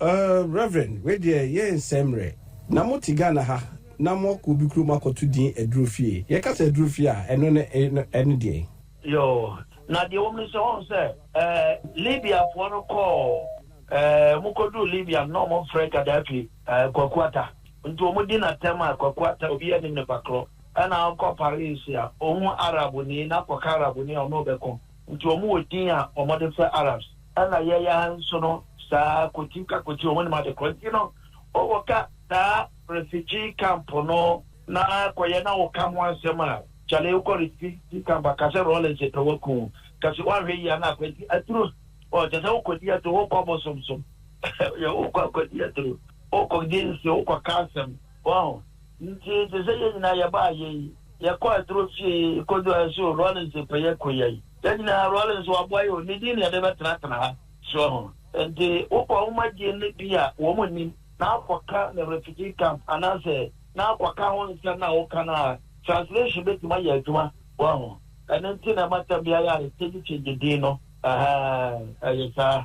Err Reverend wei deɛ yɛ nsɛm mmerɛ na mo te Ghana ha na mo akɔ obi kurom akɔ to din aduro fie yɛ ka sɛ aduro fie a ɛno ne ɛne deɛn. Yoo na deɛ ɛwɔ mu ne sɛ wɔn sɛ ɛɛ Libya foɔ no kɔɔ ɛɛ wɔn kɔ duru Libya no na wɔn frɛ Gaddafi ɛɛ Kwaku Ata nti wɔn di na tɛm a Kwaku Ata obi anim ne pakorɔ ɛna ɔkɔ Paris a ohu Arab ni na kɔ ka Arab ni a ɔno ɔbɛko. Nti wɔn wɔ din a wɔde frɛ Arabs. Ɛna yɛn yi ara nso no saa kɔti ka kɔti wɔn nim ade korɔ nti no wo wɔ ka saa refugee camp no na kɔ yɛ na wo ka ho asɛm a kyale wo kɔ refugee camp a ka sɛ Rawlings pɛ wo aku wo ka si woanhwɛ yie a na akwanti aduro ɔ kyɛ sɛ wo kɔ di aduro wo kɔ bosom so yɛ wo kɔ akɔ di aduro wo kɔ di nsi wo kɔ ka asɛm Wahu? Nti, te sɛ yɛn nyinaa, yɛbaa yei, yɛkɔɔ aduro fie, kɔduu ha, so Rawlings pɛ yɛ kɔ yi ayi. Yɛn nyinaa, Rawlings, waboa yɛ o, ne din na yɛde bɛtenatena ha. So wahu? Nti, wokɔ nwomadie no bi a wɔn nnim, na akɔka no refugee camp, anaasɛ na akɔka ho nsɛm no a woka no a, translation bɛtumi ayɛ adwuma. Wahu? Ɛno nti na ɛma tɛm biara yɛ a, yɛkyɛngye kyɛngye din no. Ahaa, ɛyɛ saa.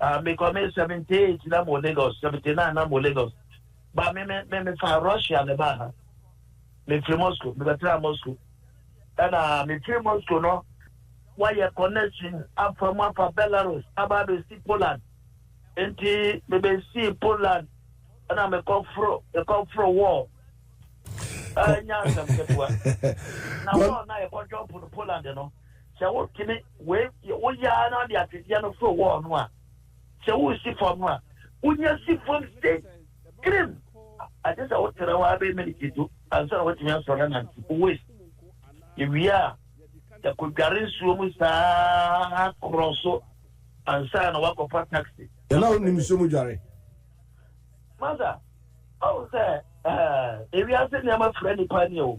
Ah me kɔ me seventy eight na mo Lagos seventy nine na mo Lagos ba me me me me fa Russia ne ba ha me firi Moscow me bɛtena Moscow ɛna me firi Moscow no wɔayɛ connection afa mu afa Belarus aba abɛsi Poland nti me bɛsi Poland ɛna me kɔ foro me kɔ foro wɔɔ ɛnya asɛm ketewa na wɔɔ na yɛkɔtwɔ Poland no. Sɛ wotene wei deɛ woyɛ ara na de atwedeɛ no foro wɔɔ no a, sɛ woresi fam no a, wonya si fam sei kirim. Agye sɛ wotena hɔ abɛyɛ miniti du ansa na woatumi asɔre anante. Wowes yɛwie a, yɛkɔdware nsuo mu saa korɔ so ansa na woakɔfa taxi. Yɛn a wonim nsuo mu dware. Masa, ɔhu sɛ ewiase nneɛma fira nnipa ani o.